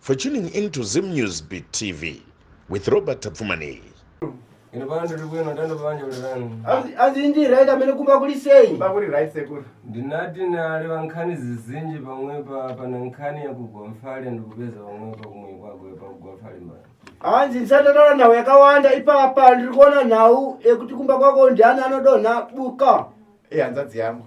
For tuning in to Zim News Beat TV with Robert Tapfumani. Ino pano tiri kuino tando pavanje kuti vanhu. Hanzi ndi right amene kumba kuli sei? Kumba kuli right sekuru. Ndinati nali vankhani zizinji pamwe pa pana nkhani ya kugomfale ndikupeza pamwe pa kumwe kwa gwe pa kugomfale mba. Hanzi nsatara na we kawanda ipa pa ndiri kuona nau ekuti kumba kwako ndi ana anodona buka. Eh hanzadzi yangu.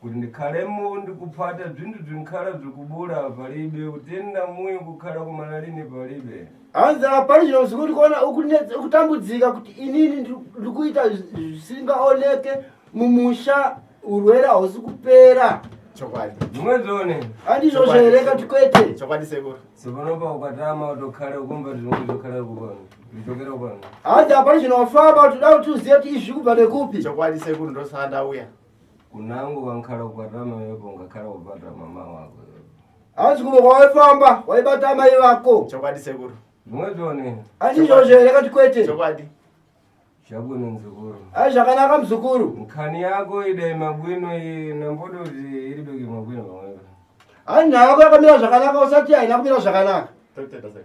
kuti ndikhalemo ndikuphata bzinthu bzinkhala bzikubula palibe utenda muye kukhala kumana lini palibe hanzi apani chino zikuti kuona ukutambudzika kuti inini ndikuita zvisingaoneke mumusha urwere hausi kupera chokwadi mumwezone andizvozvo here kati kwete chokwadi sekuru sekunopa ukatama utokhale ukumva zvinhu zvokhale kubona nditokere kubona hanzi apani chino wafamba kuti da kuti uzive kuti izvi kubva nekupi chokwadi sekuru ndosanda uya kunangu vankhala kukwatira mai vako ungakhala kukwatira mama wako hanzi kumwe kwawaifamba waibata amai vako chokwadi sekuru ndingatone achizvozvo here kati kwete chokwadi zvabwino mzukuru ai zvakanaka mzukuru nkhani yako idai mabwino iyi namboda kuti iri beki mabwino pamwepo ai nhayo yako yakamira zvakanaka usati haina kumira zvakanaka Totenda sekuru.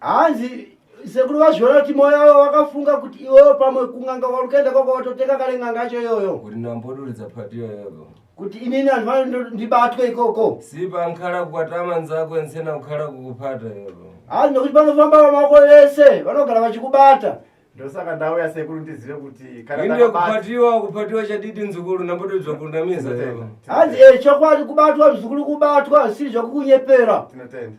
hanzi sekuru vazviona kuti moyo wavo wakafunga kuti iwewo pamwe kunganga warukaenda kwako watotenga kale nganga yacho iyoyo kuti ndamboduridza pati iyoyo kuti inini anhu vano ndibatwe ikoko sipa nkhala kukwatama nzako nsena kukhala kukupata iyoyo hanzi nokuti panofamba vamako vese vanogara vachikubata ndosaka ndauya sekuru ndizive kuti inde kupatiwa kupatiwa chadidi nzukuru ndambotodzwa kunamiza iyoyo hanzi e chokwadi kubatwa mzukuru kubatwa zvisiri zvakukunyepera tinotenda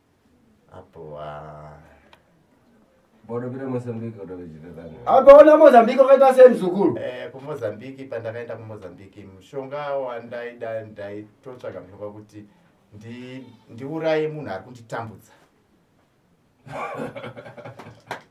apo ah. bodopira mozambique kutokuchitetani apa ona mozambique wakaita sei muzukuru Eh, kumozambique pandakaenda kumozambique mushonga wandaida ndaitotsvaga mushonga kuti ndi- ndiuraye munhu ari kunditambudza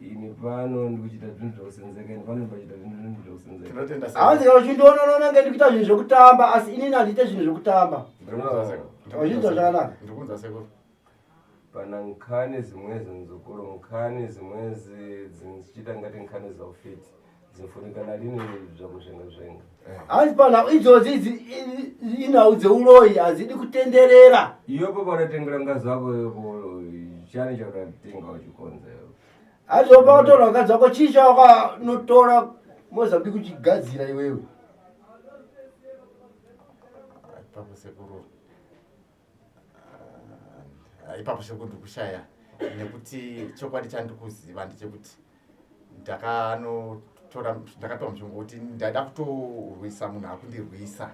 ini pano ndikuchita zvinhu zvekusenzeka ini pano ndipachita zvinhu zvekusenzeka hanzi kana uchindiona unoona kunge ndikuita zvinhu zvekutamba asi inini handiite zvinhu zvekutamba uchinzwa zvakanaka ndikuunza sekuru pana nkhani zimwezi muzukuru nkhani zimwezi dzichita ngati nkhani zaufiti dzofunikana rine zvakuzvenga zvenga hanzi panhau idzodzi idzi inhau dzeuroyi hadzidi kutenderera iyopo panotengera ngazi wako chani chakatenga uchikonza hanzi opa kutora ngazi wako chii chawakanotora mozambi kuchigadzira iwewe pamusekuru ah, ipapo sekuru ndikushaya nekuti chokwadi chandikuziva ndechekuti ndakanotora ndakatora mushonga kuti ndaida kutorwisa munhu akundirwisa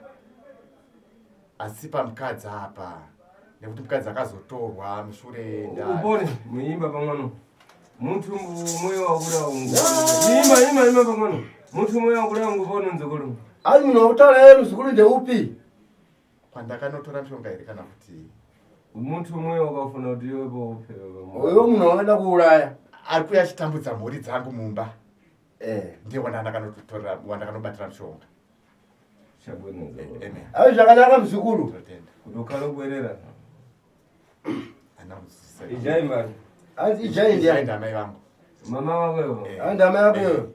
asi pamukadzi apa nekuti mukadzi akazotorwa mushure upone muimba pamwano mutu moyo wakura ungu ima ima ima pamwano mutu moyo wakura ungu paunonzokolo ai munhu wakutaura ero zukuru ndeupi kwandakanotora mishonga here kana kuti muntu umwe wakafuna kuti iwepo uyo munhu wakaenda kuuraya ari kuya achitambudza mhuri dzangu mumba eh. ndiye wandandakanotora wandakanobatira mishonga eh, ai zvakanaka muzukuru kutokhala kuerera ijai mari anzi ijai ndiani ndamai vangu mama wako eh. anzi ndamai vako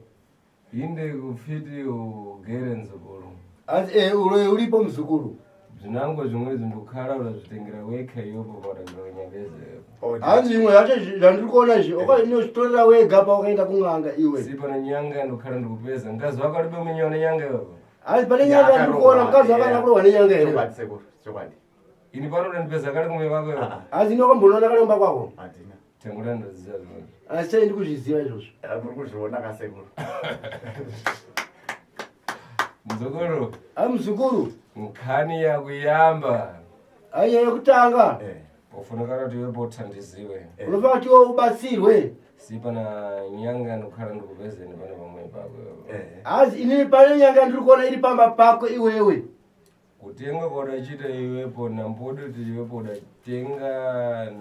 Inde kufiti ugere nzukuru. Asi eh uroyi uripo mzukuru. Zvinango zvimwe zvimbokhala unazvitengera weka yopo patakura nyambezero. Oh, Hanzi imwe yacho zvandiri kuona izvi oka inozvitorera wega paukaenda kun'anga iwe. Si pane nyanga ndokhala ndikupeza. Mkazi wako ari dominyona nyanga yopo. Hanzi pane nyanga ndiri kuona mkazi wako ari kurohwa nenyanga yopo. Chokwadi sekuru. Chokwadi. Ini pano ndipeza kale kumwe vako iwe. Asi ndoko mbonoona kale kumba kwako. Adina. Tengura ndoziva zvino. Asi chai ndikuzviziva izvozvo. Eh, muri kuzviona kasekuru. Mzukuru. Ah mzukuru. Mkhani ya kuyamba. Ayi ya kutanga. Eh. Ufuna kana kuti wepo thandiziwe. Eh. Unofa kuti ubatsirwe. Si pana nyanga ndikhala ndikuvezeni pana vamwe pako. Eh. Azi ini pana nyanga ndiri kuona iri pamba pako iwewe. kutenga kwaudachiita iwepo namboda kuti iwepo udatenga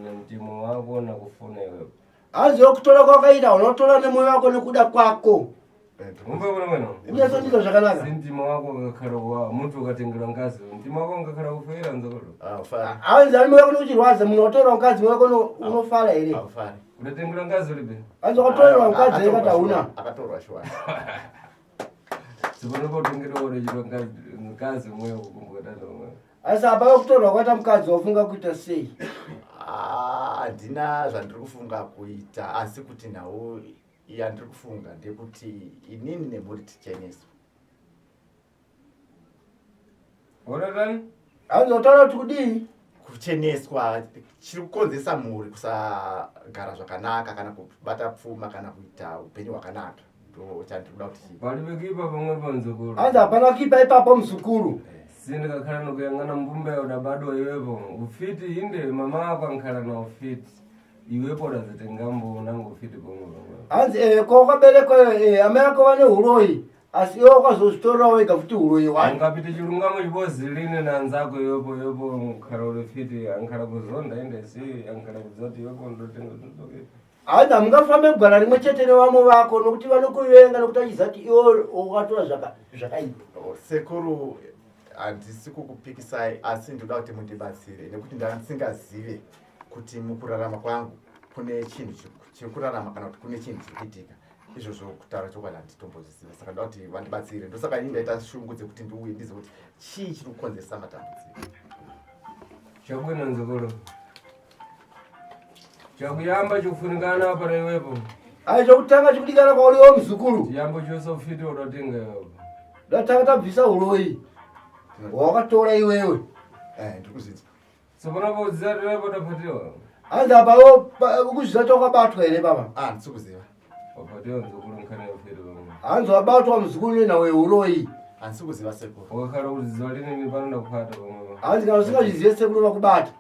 namtemo wako nakufona iwepo hanzi yokutora kwakaita unotora nemoyo wako nekuda kwako inyaso ndizo zvakanaka mtima wako ngakhala wa munthu ukatengera ngazi mtima wako ngakhala kufera nzakolo hanzi ali moyo wako nikuchirwadza munhu watora mkazi moyo wako unofara here udatengera ngazi ulibe hanzi wakatorerwa mkazi ere katauna akatorwa shuwa asi apa vakutorwa kwaita mukadzi wafunga kuita sei ah, handina zvandiri kufunga kuita asi kuti nhau yandiri kufunga ndekuti inini nemhuri ticheneswa Honatani? Hanzi wataura kuti kudii? Kucheneswa chiri kukonzesa mhuri kusagara zvakanaka kana kubata pfuma kana kuita upenyu hwakanaka. Ndochandikuda kuti chii? Vanhu vekuipa pamwe pamuzukuru. Hanzi hapana kuipa ipapo muzukuru. Sindikakhala nokuyang'ana mbumba yaudabadwa iwepo ufiti inde mama ako ankhala na ufiti iwepo udazotenga mbo unango ufiti pamwe pamwe. Hanzi eh ko kwaberekwa eh amai ako vane huroyi. asi iwe wakazozvitorera wega futi uroyi wani ungapite chirungamo chikozi line nanzako yopo yopo mukara uri fiti ankara kuzonda ende si ankara kudzoti yopo ndotenga totoke haana mungafambe gwara rimwe chete nevamwe vako nokuti vanokuvenga nokuti achiziva kuti iwo wakatora zvakaipa oh, sekuru handisi kukupikisai asi ndoda kuti mundibatsire nekuti ndandisingazive kuti mukurarama kwangu kune chinhu chiri kurarama kana kuti kune chinhu chiri kuitika izvozvo kutaura chokwadi handitombozviziva saka ndoda kuti vandibatsire ndosaka ini ndaita shungu dzekuti ndiuye ndizive kuti chii chiri kukonzeresa matambudziko chabuda nzokolo chakuyamba chikufunikana apa naiwepo ai chokutanga chikudikana kwauriwo muzukuru chiyambo chose ufiti udotenga iwepo ndatanga tabvisa uroyi wawakatora iwewe eh, ndikuzidza hanzi apawo ukuzviza kuti wakabatwa here baba ah, hanzi wabatwa muzukuru nena weuroyi hanzi kana usingazvizive sekuru vakubata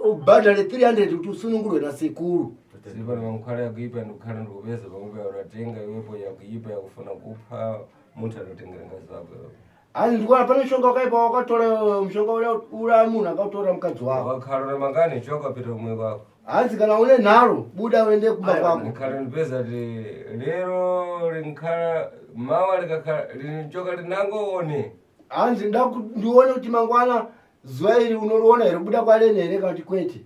ubhadhare 300 kuti usunungurwe nasekuru zvipa nokukhala yakuipa ndikukhala ndikupeza pamwe payo ratenga iwepo yakuipa yakufuna kupha munhu anotengera ngazi vako Hanzi ndikuona pane mushonga wakaipa wakatora eh, mushonga ura munhu akautora mukadzi wako. Wakarora mangani choka pita umwe wako. Hanzi kana une nharo buda uende kumba kwako. Ndikhala ndipeza ti lero linkhala mawa likakhala linchoka linango one. Hanzi ndaku ndione kuti mangwana zuva iri unoriona here kubuda kwalene here kana kuti kwete.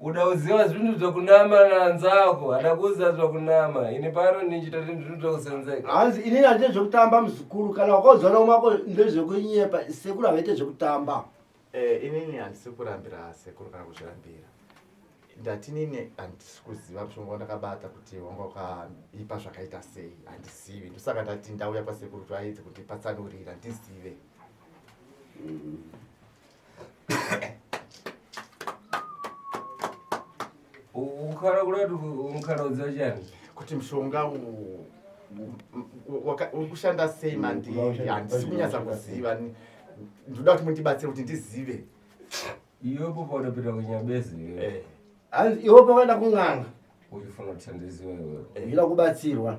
uda kuziva zvinhu zvakunama nanzako hada kuziva zvakunama ini pano ndichita zvinhu zvinhu zvakusenzeka hanzi inini handite zvekutamba muzukuru kana wakauzana umako ndezvekunyepa sekuru havaite zvekutamba eh, inini handisi kurambira sekuru kana kuzvirambira ndati nini handisi kuziva mushonga wandakabata kuti wanga wakaipa zvakaita sei handizivi ndosaka ndati ndauya pasekuru kuti vaedze kuti patsanurira ndizive mm. ukhala kulati umkhalodza chani kuti mshonga ukushanda sei mandi handisi kunyatsa kuziva ndoda kuti mundibatsire kuti ndizive iyopo paudapita kunyabezi eh. iwopo vaenda kung'anga uchifuna kuti ndizive iwe ila kubatsirwa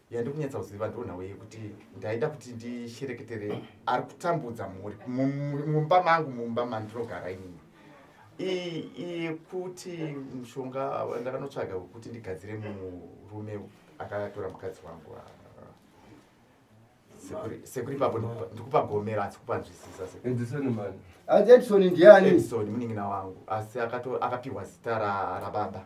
yandikunyatsa kuziva ndonhawe yekuti ndaida kuti ndishereketere ari kutambudza mhuri mumba mangu mumba mandinogara inini yekuti mushonga ndakanotsvaga wekuti ndigadzire murume akatora mukadzi wangu ah, ah. sekuri papo ndikupa gomera asi kupanzwisisa edison ndiani edison munin'ina wangu asi akapiwa zita rababa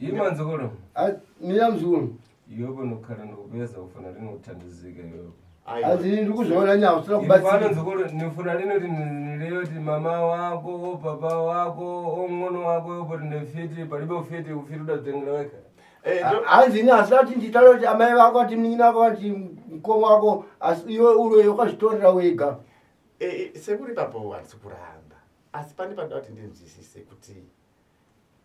Ima nzukulu. Ah, mira mzukulu. Yoko nokara nokubeza ufana rino utandizika yoko. Azi ndi kuzvona nyawo sura kubatsira. Ipano nzukulu nifuna rino rino ti mama wako, papa wako, ongono wako yopo rine fiti, palibe ufiti ufiti udatengera weka. Eh, hanzi ini asi ati nditaura kuti amai vako ati mnin'ina vako vati mukoma wako asi iwe uroyo ukazvitorera wega eh, eh, sekuri papo handisi kuramba asi pane panoda kuti ndinzwisise kuti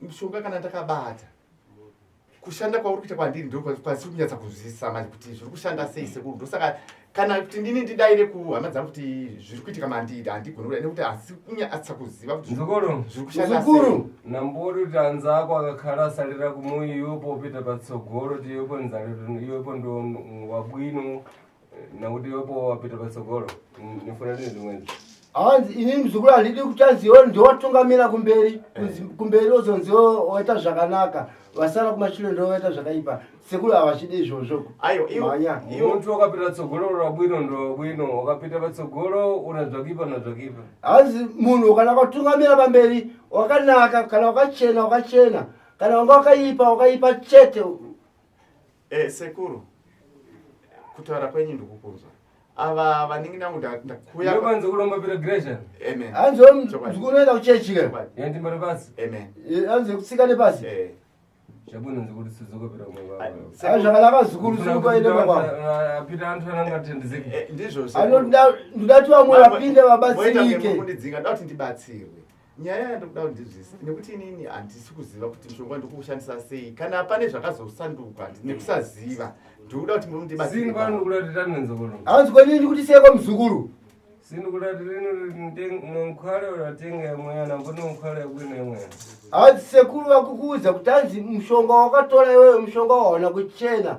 mushonga kana ndakabata kushanda kwauri kuita kwandiri ndokwaziri kunyatsa kunzwisisa manje kuti zviri kushanda sei sekuru ndosaka kana kuti ndini ndidaire kuhama dzangu kuti zviri kuitika mandidi handigoni kuda nekuti hasi kunyatsa kuziva kuti zviri kushanda sei nambori kuti anzi ako akakhala asalira kumuyi iwepo opita patsogoro ti iwepo nzaliro iwepo ndo wabwino nakuti iwepo wapita patsogolo nifuna ndine zvimweni hanzi ini muzukuru handidi kutaziwa ndowatungamira kumberi eh. kumberi ozonziwo waita zvakanaka vasara kumashure ndo vaita zvakaipa sekuru havachidi izvozvo aiwamuntu wakapita tsogolo rabwino ndo bwino wakapita patsogolo una zvakipa na zvakipa hanzi munhu kana wakatungamira pamberi wakanaka kana wakachena wakachena kana wanga wakaipa wakaipa chete Eh, sekuru kutaura kwenyu ndikukunzwa ava vanenge nangu ndakuyaanzi kuromba piregration anzi ndikunoenda kuchechi ka yandimbari pasi anzi kutsika nepasi zvakanaka zukuru zikukaendemakwapita antu ananga tendizekndizvo ndidati vamwe vapinde vabatsirike ndidzinga ndati ndibatsirwe nyaya yandikuda kuti ndizvise nekuti inini handisi kuziva kuti mushonga ndikuushandisa sei kana pane zvakazosanduka nekusaziva ndikuda kuti mundibaaanzikwanini kuti seko muzukuru hanzi sekuru vakukuudza kuti hanzi mushonga wakatora iwewe mushonga waona kuchena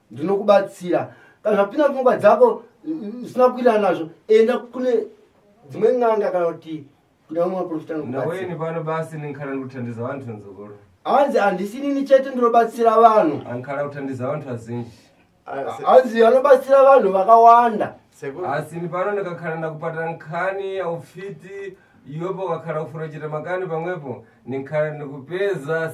ndinokubatsira kana zvapinda pfungwa dzako zvisina kukwirana nazvo enda kune dzimwe n'anga kana kuti kuna vamwe vaprofita nokubatsira pano basi ndinkhala ndikuthandiza vantu nzukulu hanzi handisinini chete ndinobatsira vanhu ankhala kuthandiza vantu vazinji hanzi vanobatsira vanhu vakawanda asi ni pano ndikakhala ndakupata nkhani yaufiti iwepo ukakhala kufura chita makani pamwepo ninkhala ndikupeza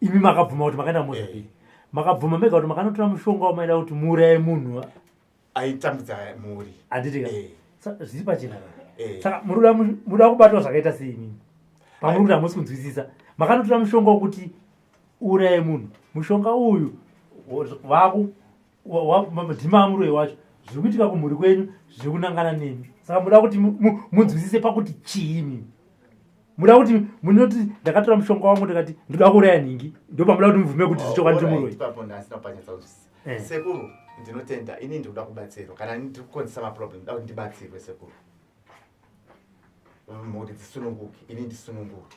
imi makabvuma kuti makaenda kumozambique eh. makabvuma mega kuti makanotora mushonga wamaida kuti muuraye munhu aitambudza mhuri handitika eh. zviri pachena eh. saka murikuda kubatwa zvakaita sei imimi pamuri kuti hamusi kunzwisisa makanotora mushonga wokuti uuraye munhu mushonga uyu vaku mtima amuroyi wacho zviri kuitika kumhuri kwenyu zviri kunangana nemi saka muda kuti munzwisise pakuti chii mimi muda kuti munoti ndakatora mushonga wangu ndikati ndoda kuuraya nhingi ndopamuda kuti mubvume kuti zvichokwadi oh, ndimuroyi eh. sekuru ndinotenda ini ndikuda kubatsirwa kana ndiri kukonzesa maproblem ndoda kuti ndibatsirwe sekuru mhuri dzisununguke ini ndisununguke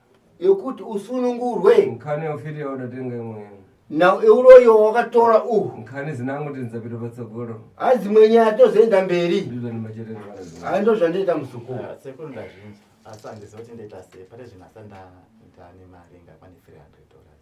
yokuti usunungurwe nkhani yaufiti yaudatenga imweni na uroyi wawakatora uhu nkhani zinangu kuti ndidzapita patsogolo ha dzimwe nyaya tozoenda mberi ndizvanimachete ha ndo zvandiita muzukuru ah, sekuru ndazvinza asi handiziva kuti ndoita sei pane zvinhu asa ndaita nemari ingakwane 300 dollars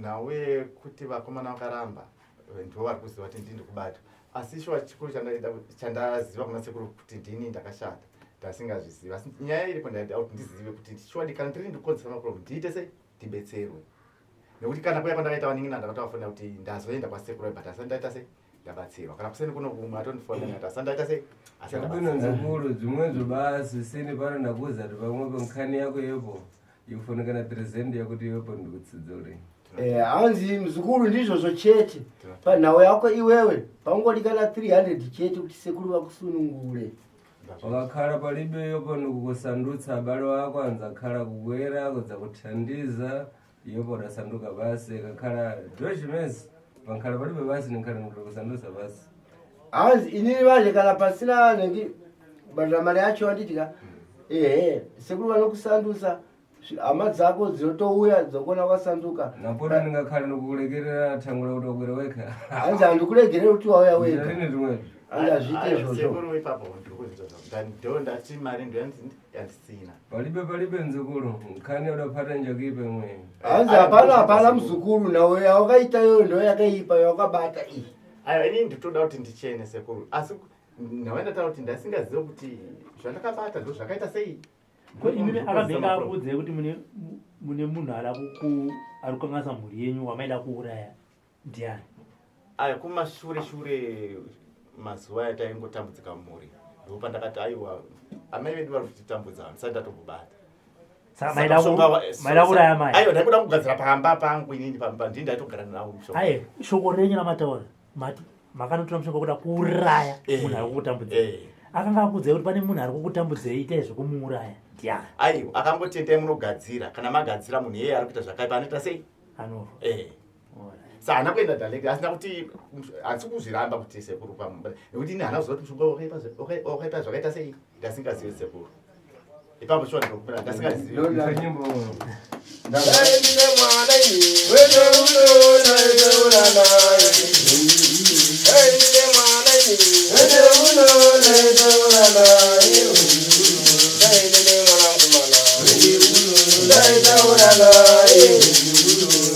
nhau yekuti vakomana vakaramba ndivo vari kuziva kuti ndii ndikubata asi shuwa chikuru chandaziva kuna sekuru kuti ndini ndakashata ndasingazvizivi asi nyaya iripo ndaida kuti ndizive kuti shuwa dikana ndiri ndikukonzesa maproblem ndiite sei ndibetserwe nekuti kana kuya kwandakaita vaningina ndakatovafonera kuti ndazoenda kwasekuru but asi ndaita sei ndabatsirwa kana kuseni kuno kumwe atondifonda nati asandaita sei Hakuna zvikuru dzimwe zvobasi sini pano ndakuudza kuti pamwe pankhani yako yepo yokufanira kana present yakuti iwepo ndikutsidzore Eh, hanzi mzukuru ndizvozvo chete panhau yako iwewe pangodi kana 300 chete kuti sekuru vakusunungure wakakhala palibe yopo ndikukusandutsa abale wako anzakhala kukwera kudza kuthandiza Yobo rasanduka vasi kakhala Josh Mess vankhala palibe vasi ninkhala nikuda kusandusa vasi hanzi inini vanje kana pasina nendi badira mari yacho vanditika ehe sekuru vanokusandusa zvi- hama dzako dzinotouya dzokuona kwasanduka napota ndingakhala nikukulekerera thango lakuti wakwere wekha hanzi handikuregerere kuti wauya wega rini rimwezvo hanzi hazviite izvozvo sekuru ipapo ndiri kuzvita zvangu ndani do ndati mari ndoyanzi ndi- yandisina palibe palibe mzukuru mkani udapata njokipe mwe hanzi hapana hapana mzukuru nawo yawakaita yoyo ndo yakaipa yawakabata iyi ayo ini nditoda kuti ndichene sekuru asi nawe ndataura kuti ndasingazive kuti zvandakabata ndo zvakaita sei ko imimi akabveka akuudzai kuti mune munhu ari kukanganisa mhuri yenyu wamaida kuuraya ndiani aya kumashure shure mazuva aya taingotambudzika mumhuri ndipo pandakati aiwa amai vedu vari kutitambudza handisati ndatombobata aiwa ndaikuda kugadzira pamba pangu inini pandii ndaitogara navo aye shoko renyu ramataura mati makanotora mushonga kuda kuuraya eh, munhu ari kukutambudza eh. akanga akuudzai kuti pane munhu ari kukutambudzei itai zvekumuuraya ndiani aiwa akangoti endai munogadzira kana magadzira munhu iyeye ari kuita zvakaipa anoita sei anofa eh. sa haana kuenda direct asina kuti asi kuzviramba kuti sekuru pamumba nekuti ini haana kuziva kuti mushonga wakaita zvakaita sei ndasingazivi sekuru ipapo shuwa ndokupira ndasingazivi Hey,